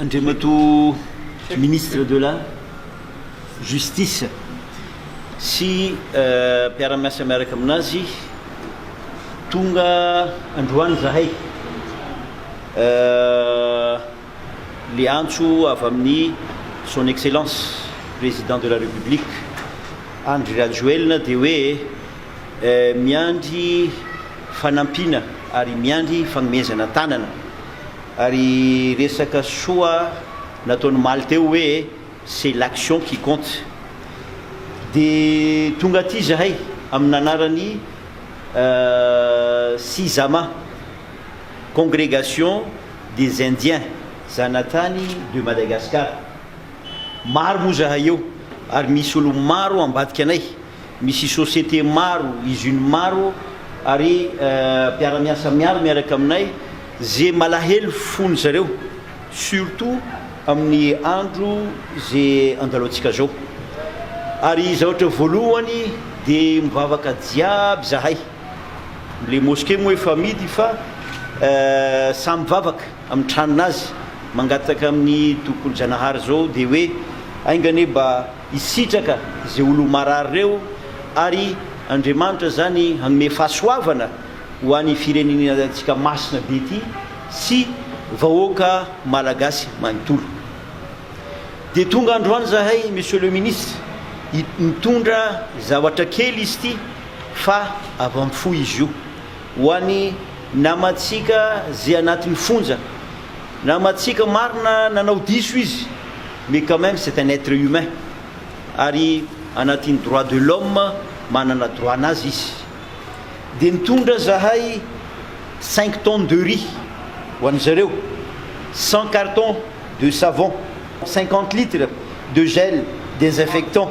Andriamatoa Ministre de la Justice sy mpiara-miasa miaraka amin'azy, tonga androany zahay. le antso avy amin'ny Son Excellence Président de la République Andry Rajoelina dia hoe miandry fanampiana ary miandry fagnomezana tanana ary resaka soa nataon'omaly teo hoe c'est l'action qui compte de tonga aty zahay amin'anarany Sizama Congregation des indiens zanatany de Madagascar maro moa zahay eo ary misy olo maro ambadika anay misy société maro usine maro ary mpiaramiasa miaro miaraka aminay ze malahelo fony zareo surtout amin'ny andro ze andalaotsika zao ary zaotra voalohany de mivavaka jiaby zahay. Le mosqué moa efa amidy fa samy mivavaka amin'ny tranon'azy mangataka amin'ny Tompok'olo Zanahary zao dia hoe ainga anie mba hisitraka ze olo marary reo ary Andriamanitra zany hanome fahasoavana ho any firenenantsika masina be ty sy vahoaka Malagasy manontolo. Dia tonga androany zahay Monsieur le Ministre, mitondra zavatra kely izy ty Fa avy amin'ny fo izy io. Ho an'ny namantsika ze anatin'ny fonja. Namantsika marina nanao diso izy mais quand même c'est un être humain ary anatin'ny droit de l'homme manana droit nazy izy. Dia nitondra zahay cinq tonnes de riz ho an'ny zareo, cent cartons de savon, cinquante litres de gel désinfectant.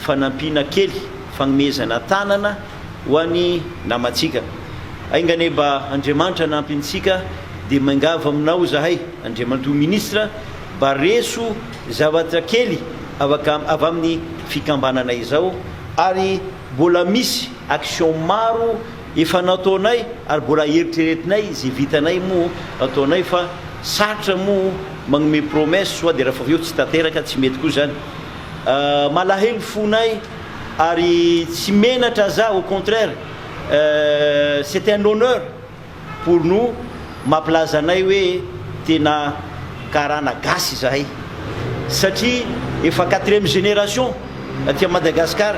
fanampiana kely, fagnomezana tanana ho an'i namantsika. Aingane mba Andriamanitra hanampy antsika dia miangavy aminao izahay Andriamantoa Ministra mba reso zavatra kely avaka avy amin'ny fikambanana izao ary mbola misy action maro efa nataonay ary mbola eritreretinay ze vitanay moa ataonay fa sarotra moa magnome promesse soa de rafaveo tsy tanteraka tsy mety koa zany Malahelo fonay ary tsy menatra za au contraire c'est un honneur pour nous mampilaza anay hoe tena karana gasy izahay satria efa quatrième génération aty Madagascar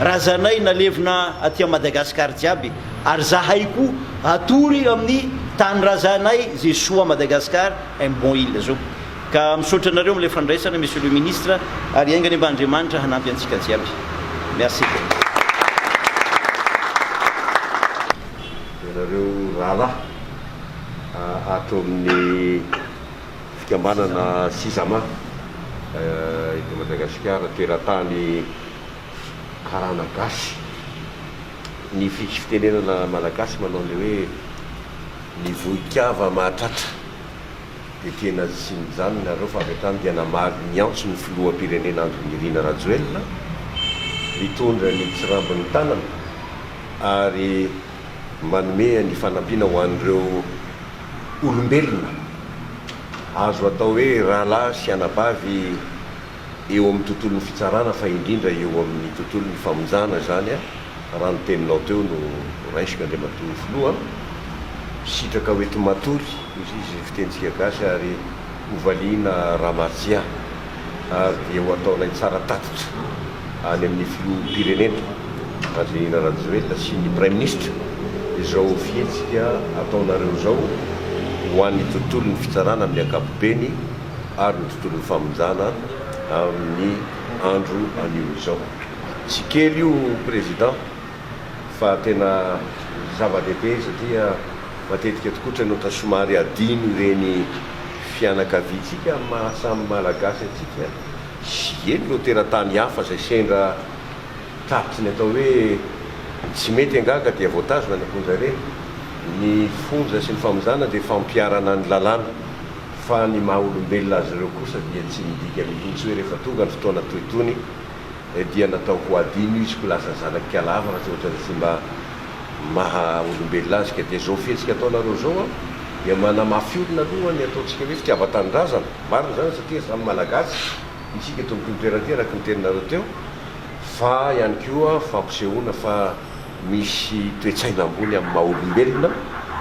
razanay nalevina aty Madagascar jiaby ary zahay koa atory amin'ny tany razanay Zesoa Madagascar un bon il zao Ka misaotra anareo amin'ilay fandraisana Monsieur le Ministre ary hiainga anie mba Andriamanitra hanampy antsika jiaby. Merci. Ianareo rahalahy ato amin'ny fikambanana Sisama eto Madagasikara, teratany karana gasy. Ny fitenenana malagasy manao ny hoe, ny vohikava mahatratra. Dia tena tsy mijanona nareo fa avy hatrany dia namaly ny antso ny filoham-pirenena Andry Nirina Rajoelina mitondra ny tsirambin'ny tanana ary manome ny fanampiana ho an'ireo olombelona azo atao hoe rahalahy sy anabavy eo amin'ny tontolon'ny fitsarana fa indrindra eo amin'ny tontolon'ny famonjana izany raha ny teninao teo no raisiko Andriamatoa Filoha an! Sitraka ho ety matory izy izy fitentsika gasy ary ho valiana Ramatsia ary dia ho ataonay tsara tatitra any amin'ny Filoham-pirenena Andrianina Rajoelina sy ny Praiminisitra izao fihetsika ataonareo izao ho an'ny tontolon'ny fitsarana amin'ny ankapobeny ary ny tontolon'ny famonjana amin'ny andro anio izao. Tsy kely io Président fa tena zava-dehibe satria matetika tokoa trainota somary adino ireny fianakaviantsika amin'ny maha samy Malagasy antsika sy eny ireo teratany hafa izay sendra tapitry ny atao hoe tsy mety angaha ka dia voatazona ny amponja ireny. Ny fonja sy ny famonjana dia fampiharana ny lalàna. fa ny maha olombelona azy ireo kosa dia tsy midika mihitsy hoe rehefa tonga ny fotoana toy itony dia natao ho adino izy ko lasa zanaky kalava raha tsy ohatran'ny fomba maha olombelona azy ka dia izao fihetsika ataonareo izao an dia manamafy olona aloha ny ataontsika hoe fitiavan-tanindrazana marina izany satria samy malagasy isika eto amin'ity toerana ity araka ny teninareo teo fa ihany koa fampisehoana fa misy toe-tsaina ambony amin'ny maha olombelona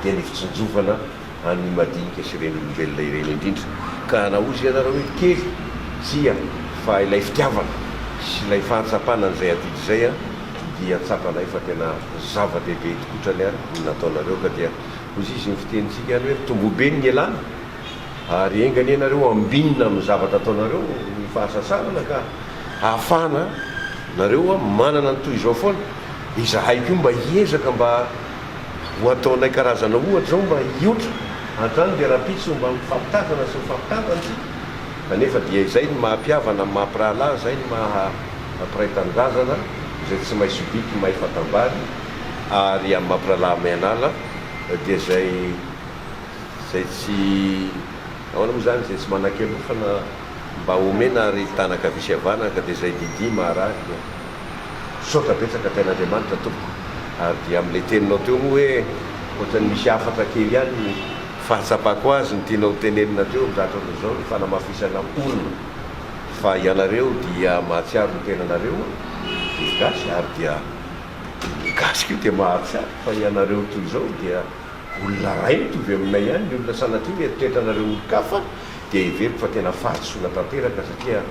dia ny fitsinjovana an'ny madinika sy ren'olombelona ireny indrindra, ka hanahozy ianareo hoe kely, tsia, fa ilay fitiavana sy ilay fahatsapana an'izay adidy izay dia tsapanay fa tena zava-dehibe tokotrany ary ny nataonareo, ka dia hozy izy ny fitenintsika any hoe tomboho be ny elana ary enga anie ianareo ambinina amin'ny zavatra ataonareo ny fahasasanana ka hahafahana nareo manana ny toy izao foana, izahay koa mba hiezaka mba Ho ataonay karazana ohatra izao mba hiotra, hatrany dia rahampitso mba mifampitazana sy mifampitantana isika, kanefa dia izay no maha-mpihavana amin'ny maha-mpirahalahy, izay no maha-mpiray tanindrazana, izay tsy mahay sobika, mahay fatam-bary, ary amin'ny maha-mpirahalahy mahay an'ala dia izay, izay tsy, ahoana moa izany, izay tsy manan-kialofana mba omena ary hitanana an-kavia sy havanana ka dia izay didia maharary. Misaotra betsaka Tain'Andriamanitra tompoko ary dia amin'ilay teninao teo moa hoe ohatran'ny misy hafatra kely ihany ny fahatsapako azy ny tianao tenenina teo amin'izany fotoana izao ny fanamafisana orina fa ianareo dia mahatsiaro ny tenanareo dia gasy ary dia ny gasy koa dia mahatsiaro fa ianareo toy izao dia olona iray mitovy aminay ihany ny olona sanatria mieritreritra anareo olon-kafa dia heveriko fa tena fahatsoana tanteraka satria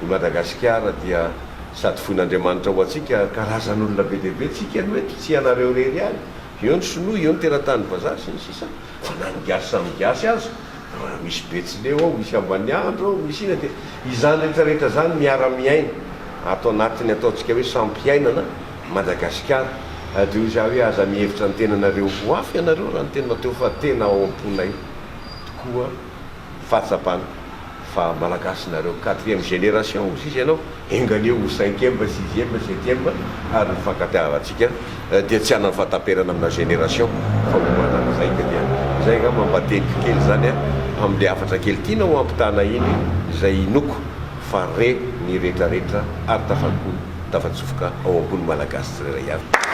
I Madagasikara dia sady voin'Andriamanitra ho antsika, karazan'olona be dia be, tsika aloha eto, tsy ianareo irery ihany, eo ny sinoa, eo ny teratany vazaha, sy ny sisa, fa na ny gasy samy gasy aza, raha misy betsileo ao, misy ambaniandro ao, misy ina, dia izany rehetra rehetra izany miara-miaina ato anatin'ny ataontsika hoe sampiainana Madagasikara, dia hoy za hoe aza mihevitra ny tenanareo ho hafa ianareo raha ny tena teo fa tena ao am-ponay tokoa fahatsapana fa malagasy nareo, quatrième génération hozy izy ianao, enga anie ho cinquième, sixième, septième ary ny fankatiavantsika dia tsy hanana fahataperana amina génération fa ho manan'izay ka dia izay nga mba mba teniko kely izany amle hafatra kely tiana ho ampitana iny izay inoako fa re ny retraretra ary tafapo tafatsofoka ao am-po ny malagasy tsirairay avy.